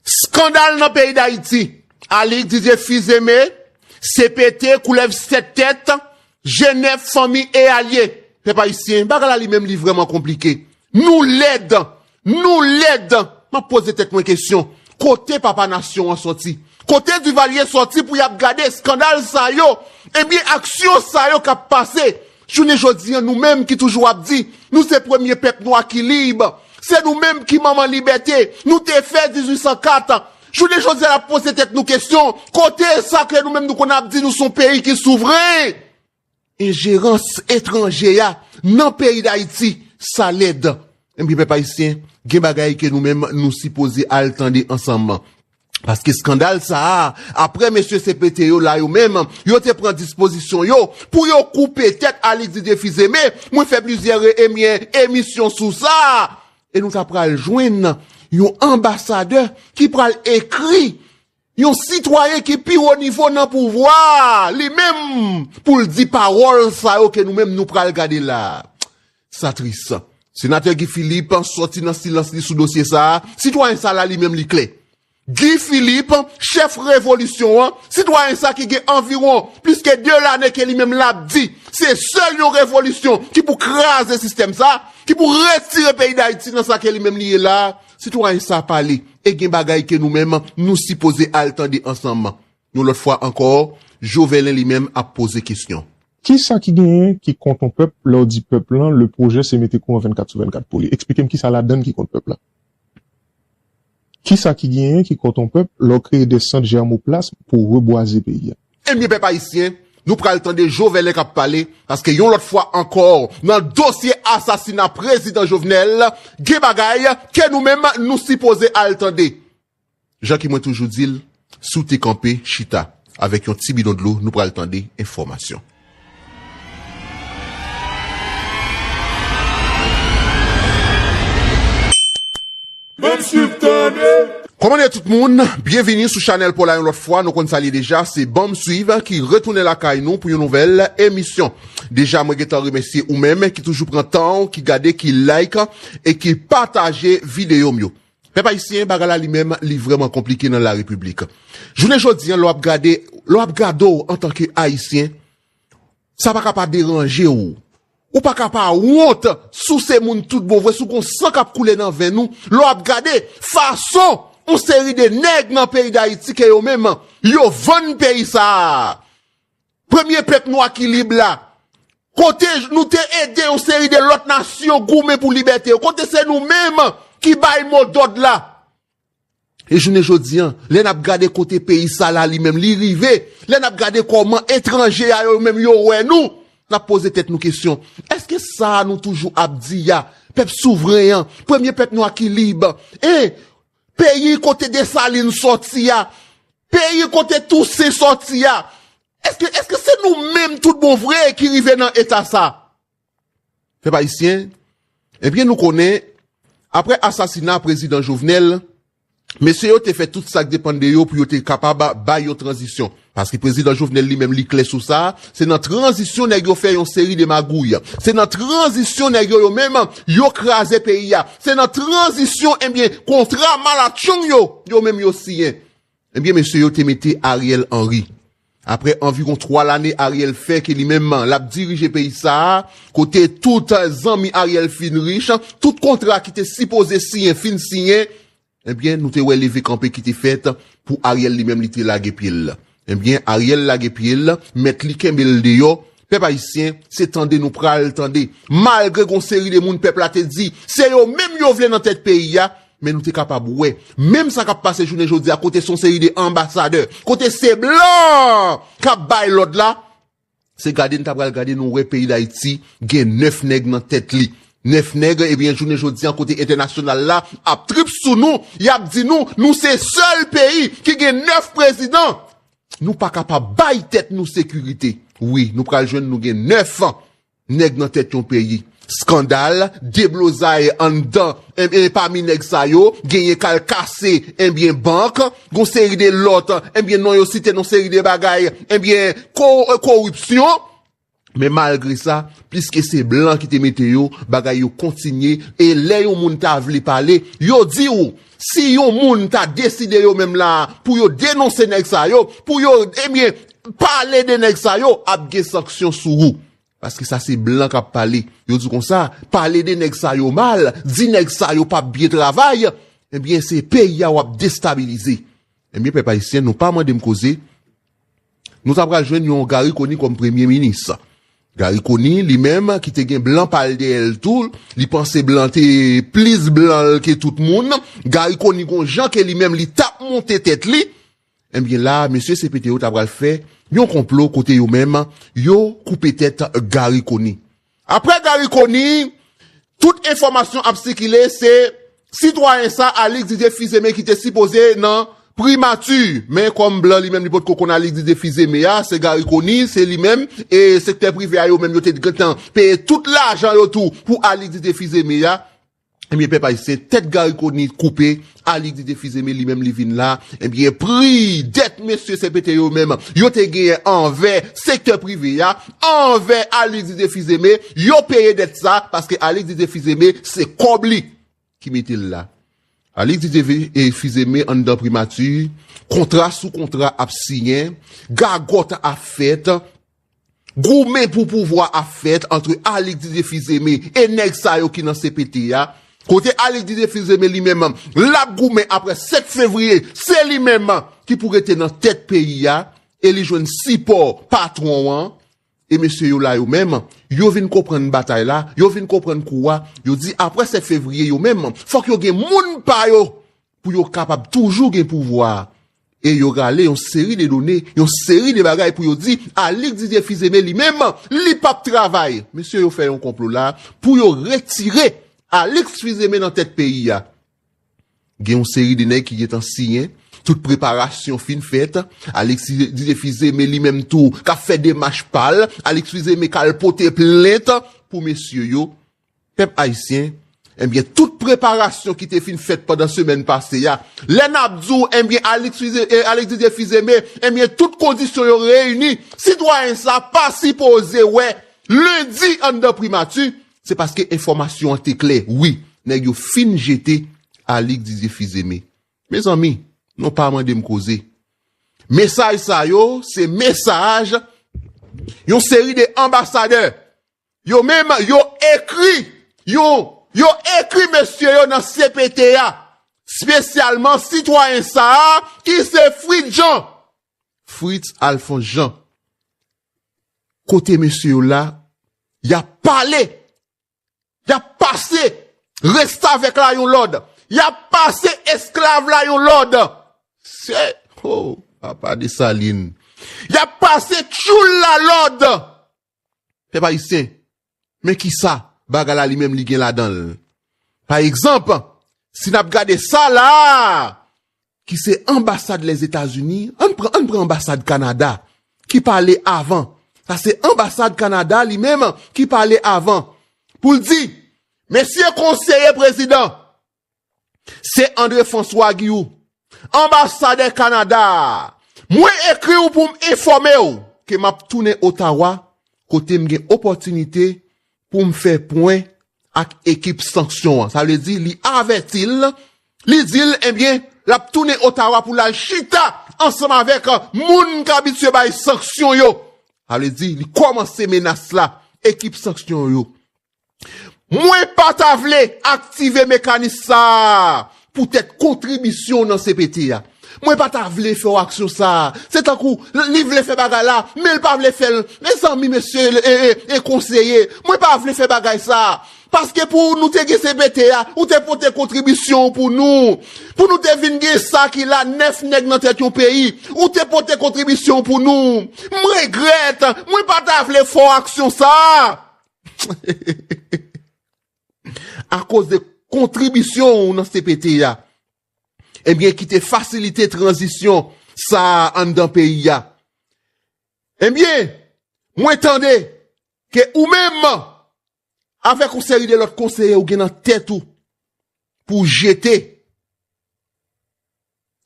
Skandal nan peyi Dayiti! Alix Didier Fils Aimé, CPT, Koulèv 7 tèt, Je 9, Fanmi e Alye! Pèp Ayisyen, bagay la li menm li vrèman konplike. Nou lèd! Nou lèd! M ap poze tèt mwen kesyon, kote papa nasyon an sòti? Kote Duvalier sòti pou y ap gade eskandal sa yo? Ebyen aksyon sa yo k ap pase Jounen jodi an nou menm ki toujou ap di nou se premye pèp nwa ki lib, se nou menm ki manman libète, nou te fè 1804, jounen jodi a n ap poze tèt nou kesyon kote sa ke nou menm nou konn ap di nou son peyi ki souvren? Enjerans etranje a nan peyi Dayiti sa lèd. Ebyen pèp ayisyen gen bagay ke nou menm nou sipoze al tande ansanm. Paske skandal sa a, apre mesye CPT yo la yo menm, yo te pran dispozisyon yo pou yo koupe tèt Alix Didier Fils-Aimé, mwen fè plizyè re emye emisyon sou sa, e nou ta pral jwenn yon anbasadè ki pral ekri yon sitwayen ki pi wo nivo nan pouvwa a, li menm pou l di pawòl sa yo ke nou menm nou pral gade la a. Sa tris. Senatè Guy Philippe sòti nan silans li sou dosye sa a, sitwayen sa la li menm li klè. Guy Philippe, chèf revolisyon an, sitwayen sa ki gen anviwon plis ke 2 lane ke li menm la ap di se sèl yon revolisyon ki pou kraze sistèm sa, ki pou retire peyi Dayiti nan sa ke li menm li ye la a, sitwayen sa pale e gen bagay ke nou menm nou sipoze al tande ansanm. Yon lòt fwa ankò, Jovelen li menm ap poze kesyon. Kisa ki genyen ki kont yon pèp lè w di pèp lan le pwojè se mete kouran 24 sou 24 pou li? Eksplike m kisa ladann ki kont pèp la? Kisa ki genyen ki kont yon pèp lè w kreye de sant jèrmoplasm pou rebwaze peyi a? Ebyen pèp ayisyen, nou pral tande Jovèlè k ap pale paske yon lòt fwa ankò nan dosye asasina prezidan Jovnèl gen bagay ke nou menm nou sipoze al tande. Jan ki mwen toujou dil si w te kanpe chita avek yon ti bidon dlo nou pral tande enfomasyon. Menm swiv tande. Koman ye tout moun, byenvini sou chanèl pola yon lòt fwa, nou konn sa l ye deja se banm swiv ki retounen lakay nou pou yon nouvèl emisyon. Deja mwen gentan remèsye ou menm ki toujou pran tan w ki gade ki like e ki pataje videyo m yo. Pèp ayisyen bagay la li menm li vrèman konplike nan la repiblik. Jounen jodi an lè w ap gade, lè w ap gade w antanke ayisyen, sa pa ka pa deranje w. Ou pa ka pa wont si w se moun tout bon vre, si w gon san k ap koule nan venn ou, lè w ap gade fason yon seri de nèg nan peyi dayiti ke yo menm yo vann peyi sa a Premye pèp nwa ki lib la. Kote nou te ede yon seri de lòt nasyon goumen pou libète yo. Kote se nou menm ki bay mo dòd la. E jounen jodi an, lè n ap gade kote peyi sa la li menm li rive, lè n ap gade kòman etranje a yo menm yo wè nou, n ap poze tèt nou kesyon, èske sa a nou toujou ap di a, pèp souvren an, premye pèp nwa ki lib, e, Peyi kote Desalin sòti a, peyi kote Tousen sòti a, èske, èske se nou menm tout bon vre ki rive nan eta sa? Pèp Ayisyen, ebyen nou konnen, aprè asasina Prezidan Jovenel, mesye yo te fè tout sa k depann de yo pou yo te kapab bay yon tranzisyon. Paske prezidan Jovenel li menm li klè sou sa, se nan tranzisyon nèg yo fè yon seri de magouy. Se nan tranzisyon nèg yo yo menm yo kraze peyi a. Se nan tranzisyon ebyen kontra malatchong yo yo menm yo siyen. Ebyen mesye yo te mete Ariel Henry. Aprè anviron 3 lane Ariel fè ke li menm l ap dirije peyi sa a, kote tout zanmi Ariel fin rich, tout kontra ki te sipoze siyen fin siyen, Ebyen nou te wè leve kanpe ki te fèt pou Ariel li menm li te lage pyel ebyen Ariel lage pyel mèt li kenbel deyò pèp ayisyen se tande nou pral tande malgre gon seri de moun pèp la te di se yo menm yo vle nan tèt peyi a men nou te kapab wè menm sa kap pase jounen jodi a kote son seri de anbasadè kote se blan kap bay lòd la. Se gade n ta pral gade nou wè peyi Dayiti gen 9 nèg nan tèt li. 9 nèg ebyen jounen jodi an kote entènasyonal la ap trip sou nou y ap di nou nou se sèl peyi ki gen 9 prezidan nou pa kapab bay tèt nou sekirite wi nou pral jwenn nou gen 9 Nèg nan tèt yon peyi. Skandal, deblozay anndan enben pami nèg sa yo genyen k al kase enben bank, gon seri de lòt enben non yo site non seri de bagay enben koripsyon men malgre sa pliske se blan ki te mete yo bagay yo kontinye e lè yon moun ta vle pale yo di ou Si yon moun ta deside yo menm la pou yo denonse nèg sa yo, pou yo ebyen pale de nèg sa yo, ap gen sanksyon sou ou. Paske sa se blan k ap pale. Yo di konsa, pale de nèg sa yo mal, di nèg sa yo pa p byen travay, ebyen se peyi a w ap destabilize. Ebyen pèp ayisyen nou pa mande m koze, Nou ta pral jwenn yon Garry Conille kòm premye minis. Garry Conille li menm ki te gen blan pa l dèyè l tou, li panse blan te plis blan l ke tout moun, Garry Conille gon jan ke li menm li t ap monte tèt li, enbyen la mesye CPT yo ta pral fè yon konplo kote yo menm yo koupe tèt Garry Conille. Aprè Garry Conille, tout enfòmasyon ap sikile se sitwayen sa Alix Didier Fils-Aimé ki te sipoze nan Primati, men kòm blan li menm li potko konn Alix Didier Fils-Aimé a, se Garry Conille, se li menm, e sektè prive a yo menm yo te gentan peye tout lajan yo tou pou Alix Didier Fils-Aimé a. Ebyen pèp ayisyen tèt Gary conille koupe Alix li te fize men li menm li vin la ebyen pri dèt mesye CPT yo menm yo te genyen anvè sektè prive ya anvè Alix li te fize men yo peye dèt sa paske Alix li te fize men se kòb li ki mete l la Alix li te fize men anndan primati kontra sou kontra ap siyen gagòt ap fèt Goumen pou pouvwa ap fèt antre Alix Didier Fils-Aimé e nèg sa yo ki nan cpt a, kote Alix Didier Fils-Aimé li menm l ap goumen aprè 7 fevriye se li menm ki pou rete nan tèt peyi a e li jwenn sipò patwon an e mesye yo la yo menm yo vin konprann batay la, yo vin konprann kou a, yo di aprè 7 fevriye yo menm fòk yo gen moun pa yo pou yo kapab toujou gen pouvwa a E yo rale yon seri de done, yon seri de bagay pou yo di, Alix Didier Fils-Aimé li menm, li p ap travay! Mesye yo fè yon konplo la pou yo retire Alix Fils-Aimé nan tèt peyi a. Gen yon seri de nèg ki gen tan siyen, tout preparasyon fin fèt, Alix Didier Fils-Aimé li menm tou k ap fè demach pa l, Alix Fils-Aimé k al pote plent pou mesye yo. Pèp Ayisyen, enbyen tout preparasyon ki te fin fèt pandan semèn pase ya, lè nap di w enbyen Alix Alix Didier Fils-Aimé enbyen tout kondisyon yo reyini, sitwayen sa pa sipoze wè Lendi anndan Primati, se paske enfòmasyon an te klè wi, nèg yo fin jete Alix Didier Fils-Aimé. Mezanmi, non pa mande m koze. Mesaj sa yo se mesaj yon seri de anbasadè Yo menm yo ekri yon yo ekri mesye yo nan cpt a, spesyalman sitwayen sa a ki se Fritz Jean, Fritz Alphonse Jean. Kote mesye yo la, y ap pale, y ap pase restavèk la yon lòd, y ap pase esklav la yon lòd. Se, oh, papa Dessalines. Y ap pase tchoul la lòd. Pèp Ayisyen, men kisa bagay la li menm li gen ladan l. Pa egzanp, si n ap gade sa la a, ki se anbasad Lèzetazini, ann pran, ann pran anbasad Kanada ki pale avan, sa se anbasad Kanada li menm ki pale avan pou l di, Mesye konseye prezidan, Se André François Guilloux, anbasadè Kanada a. Mwen ekri w pou m enfòme w ke m ap tounen Ottawa kote m gen opòtinite pou m fè pwen ak ekip sanksyon an. Sa vle di li avèti l, li di l ebyen l ap tounen Ottawa pou l al chita ansanm avèk moun k abitye bay sanksyon yo. Sa vle di li kòmanse menas la ekip sanksyon yo. Mwen pa ta vle aktive mekanis sa a poutèt kontribisyon w nan cpt a. Mwen pa ta vle fè w aksyon sa a. Se tankou li vle fè bagay la, men li pa vle fè l. Mezanmi mesye e konseye, mwen pa vle fè bagay sa a. Paske pou nou te gen cpt a, ou te pote kontribisyon w pou nou. Pou nou te vin gen sa ki la 9 nèg nan tèt yon peyi, ou te pote kontribisyon w pou nou. M regrèt, mwen pa ta vle fè w aksyon sa a. Akoz de kontribisyon ou nan CPT a, ebyen ki te fasilite tranzisyon sa a anndan peyi a. Ebyen, mwen tande ke ou menm, avèk yon seri de lòt konseye ou gen nan tèt ou, pou jete.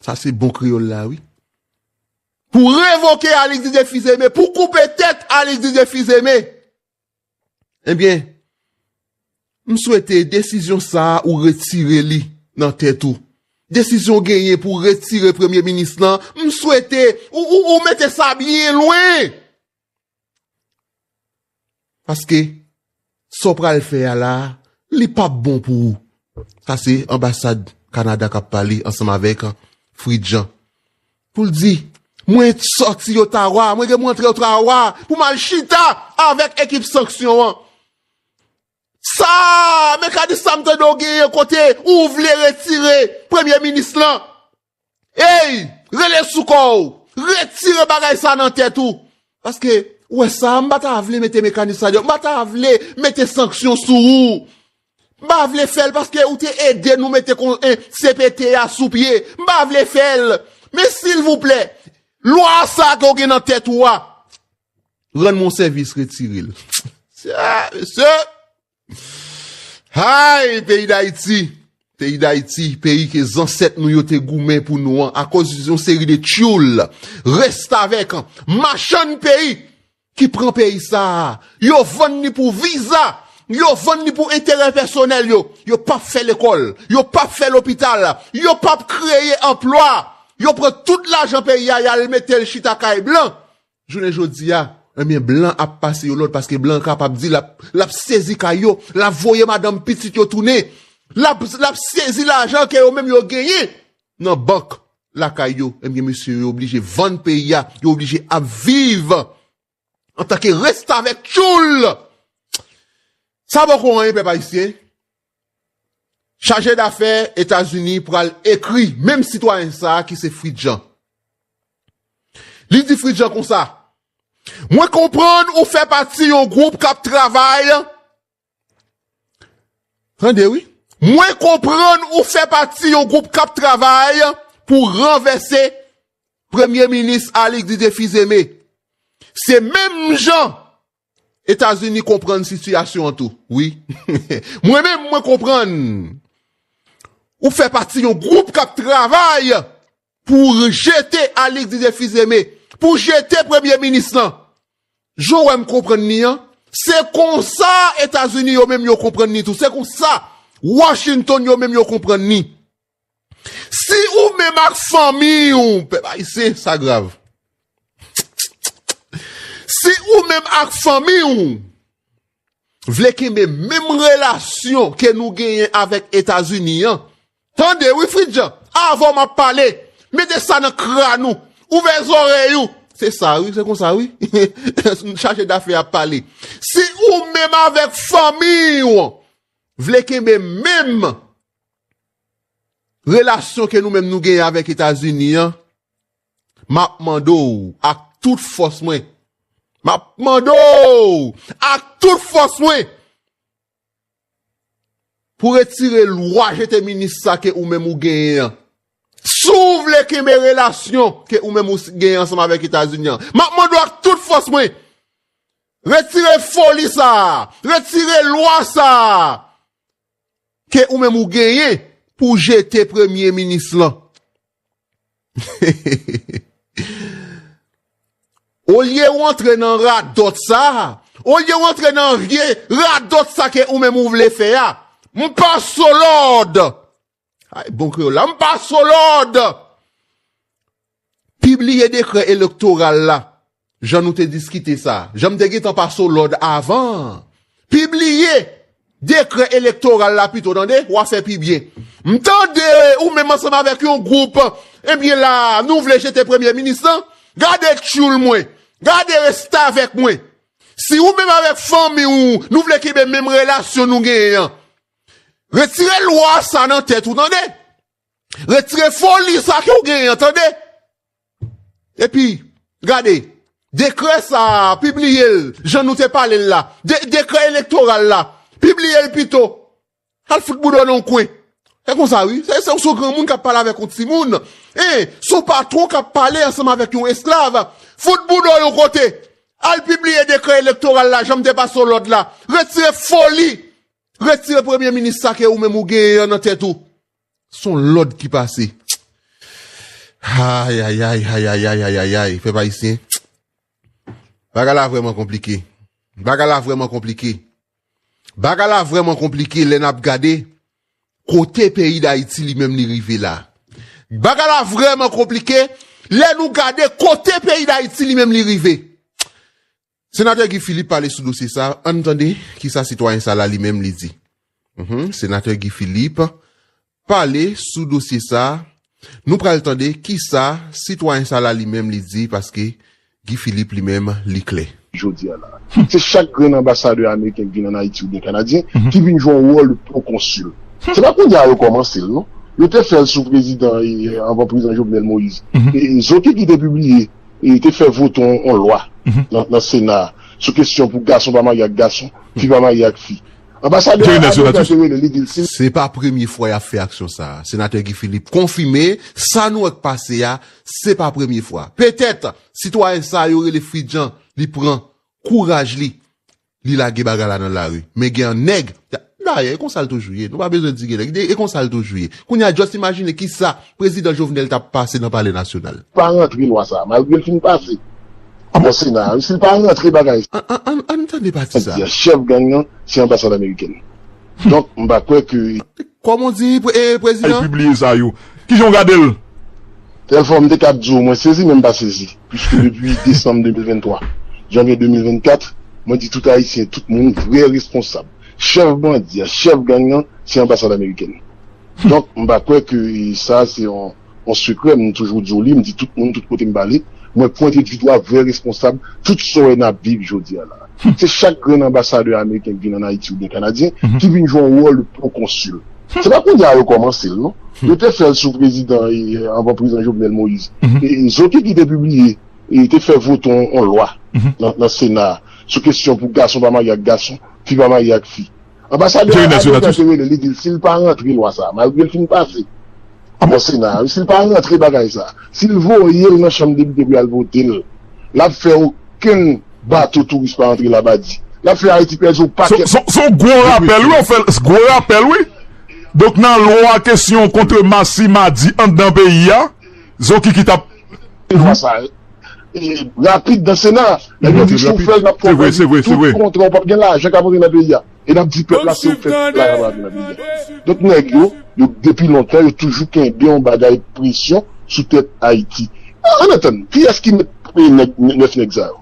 Sa se bon kreyol la wi. Pou revoke Alix Didier Fils-Aimé, pou koupe tèt Alix Didier Fils-Aimé. Ebyen, m swete desizyon sa a ou retire li nan tèt ou. Desizyon w genyen pou w retire premye minis lan, m swete ou mete sa byen lwen. Paske sa w pral fè a la a, li p ap bon pou ou. Sa se anbasad Kanada k ap pale ansanm avèk Frid Jan. Pou l di, Mwen sòti Ottawa, mwen gen pou m antre Ottawa pou m al chita avèk ekip sanksyon an. Sa a, mekanis Sam Trudeau genyen kote ou vle retire premye minis lan. Ey! Rele sou kò w! Retire bagay sa nan tèt ou! Paske, ou wè sa a, m pa ta vle mete mekanis sa deyò, m pa ta vle mete sanksyon sou ou. M pa vle fè l paske ou te ede nou mete CPT a sou pye. M pa vle fè l. Men silvouplè, lwa sa a ke w gen nan tèt ou a, rann mwen yon sèvis retire l. Mesye! Hay peyi dayiti, peyi dayiti, peyi ke zansèt nou yo te goumen pou nou an, akoz yon seri de tyoul, restavèk, machann peyi, ki pran peyi sa a, yo vann ni pou viza, yo vann ni pou enterè pèsonèl yo, yo pap fè lekòl, yo pap fè lopital, yo pap kreye anplwa, yo pran tout lajan peyi a yal metel chita kay blan, Jounen jodi a, ebyen blan ap pase yo lòd paske blan kapab di lap lap sezi kay yo, lap voye madanm pitit yo tounen, lap lap sezi lajan ke yo menm yo genyen nan bank lakay yo, ebyen mesye yo oblije vann peyi a, yo oblije ap viv antanke restavèk tchoul! Sa poko anyen pèp ayisyen. Chaje dafè Etazini pral ekri menm sitwayen sa ki se Fritz Jean. Li di Fritz Jean konsa, Mwen konprann ou fè pati yon gwoup k ap travay, tande wi, mwen konprann ou fè pati yon gwoup k ap travay pou ranvèse Premye Minis Alix Didier Fils-Aimé. Se menm jan Etazini konprann sitiyasyon an tou wi. Mwen menm mwen konprann ou fè pati yon gwoup k ap travay pou jete Alix Didier Fils-Aimé, pou jete premye minis lan. Jan w wè m konprann li an, se konsa Etazini yo menm yo konprann li tou, se konsa Washington yo menm yo konprann li. Si ou menm ak fanmi ou, pèp ayisyen sa grav. Si ou menm ak fanmi ou, vle kenbe menm relasyon ke nou genyen avèk Etazini an, tande wi Fridjan, avan map pale, mete sa nan kran ou, ouvè zorèy ou, se sa wi, se konsa wi, chaje dafè ap pale. Si ou menm avèk fanmi ou, vle kenbe menm Relasyon ke nou menm nou genyen avèk Etazini an, m ap mande w ak tout fòs mwen, m ap mande w ak tout fòs mwen, pou retire lwa jete minis sa ke ou menm ou genyen an. Si w vle kenbe relasyon ke ou menm ou genyen ansanm avèk Etazini an, m ap mande w ak tout fòs mwen, retire foli sa a, retire lwa sa a, Ke ou menm ou genyen pou jete premye minis lan. Olye ou antre nan radòt sa, olye ou antre nan vye radòt sa ke ou menm ou vle fè a. M pa solòd! Ay bon kreyòl la, m pa so lòd! Pibliye dekrè elektoral la, jan nou te diskite sa. Jan m te gentan pa so lòd avan an. Pibliye dekrè elektoral la pito tande, w a fè pi byen. M tande ou menm ansanm avèk yon gwoup, ebyen la a, nou vle jete premye minis lan? Gade tyoul mwen! Gade restavèk mwen! Si ou menm avèk fanmi ou, nou vle kenbe menm relasyon nou genyen an, Retire lwa sa nan tèt ou tande. Retire foli sa ke ou genyen an tande. Epi, gade, dekrè sa a, pibliye l, jan nou te pale l la. Dekrè elektoral la, pibliye l pito. Al fout boudon nan yon kwen. Se konsa wi, se yon sou granmoun k ap pale avèk yon timoun. E, sou patwon k ap pale ansanm avèk yon esklav. Fout boudon yon kote. Al pibliye dekrè elektoral la, jan m te pase w lòd la. Retire foli Retire premye minis sa ke ou menm ou genyen an nan tèt ou. Son lòd ki pase. Ayayay, ayayay, ayayay, pèp ayisyen. Bagay la vrèman konplike. Bagay la vrèman konplike. Bagay la vrèman konplike lè n ap gade kote peyi Dayiti li menm li rive la. Bagay la vrèman konplike lè nou gade kote peyi Dayiti li menm li rive. Senatè Guy Philippe pale sou dosye sa, ann tande kisa sitwayen sa la li menm li di. Senatè Guy Philippe pale sou dosye sa, nou pral tande kisa sitwayen sa la li menm li di paske Guy Philippe li menm li klè. Jodi a la a, se chak grenn anbasadè ameriken ki vin an Ayiti oubyen kanadyen ki vin jwe yon wòl de pwokonsil. Se pa kounye a yo kòmanse l non. Yo te fè l sou prezidan, anvan prezidan Jovenel Moïse. Zoki ki te pibliye e te fè vote yon lwa nan sena a sou kesyon pou gason pa marye ak gason, fi pa marye ak fi. Anbasadè Adelma te rele li di l si l. Se pa premye fwa y ap fè aksyon sa a. Senatè Guy Philippe konfime sa nou wè k pase a, se pa premye fwa. Petèt, sitwayen sa yo rele Fridjan li pran kouraj li Li lage bagay la nan lari. Men gen an nèg. Dayè e konsa l toujou ye. Nou pa bezwen di gen nèg. E konsa l toujou ye. Kounye a just imajine ki sa Prezidan Jovenel t ap pase nan Palè Nasyonal. Pa rantre lwa sa a malgre l fin pase nan Sena a wi. Si l pa rantre bagay. Ann tande pati sa a. Chèf gang nan se anbasad amerikèn. Donk m pa kwè ke. Koman w di li prezidan? Al pibliye sa yo. Kijan w gade l? Telfò, m te kab di w mwen sezi men m pa sezi, puiske depi desanm 2023, janvye 2024, mwen di tout Ayisyen, tout moun, vrè responsab, chèf bandi a, chèf gang nan, se anbasad amerikèn. Donk, m pa kwè ke sa a se yon. Yon sekrè m toujou di w li, m di tout moun tout kote m pale, mwen pwente di dwa vrè responsab tout sa w wè n ap viv jodi a la a. Se chak grenn anbasadè ameriken k vin ann Ayiti oubyen kanadyen ki vin jwe yon wòl de pwokonsil. Se pa kounye a yo kòmanse l non. Yo te fè l sou prezidan anvan prezidan Jovenel Moïse. Zoky ki te pibliye e te fè vote yon lwa nan sena a sou kesyon pou gason pa marye ak gason, fi pa marye ak fi. Anbasadè a Adelma te rele li di l si l pa rantre lwa sa a, malgre l fin pase nan Sena a, si l pa rantre bagay sa a, si l voye l nan Chanm Depite pou y al vote l, l ap fè okenn bato touris pa antre Labadi. L ap fè Ayiti pèdi yon pakèt gwo pwesyon. Son gwo rapèl wi, gwo rapèl wi. Donk nan lwa kesyon kontre masi madi anndan peyi a, Zokiki t ap. Lwa sa a. rapid nan sena a lè yo di si ou fèl nap fè ou pèdi tout kontra ou pap gen lajan kap antre nan peyi a e nap di pèp la si ou fè tout bagay ap antre nan peyi a donk nèg yo yo depi lontan yo toujou kenbe yon bagay presyon sou tèt ayiti an ann tann kiyès ki mèt nèg 9 nèg sa yo.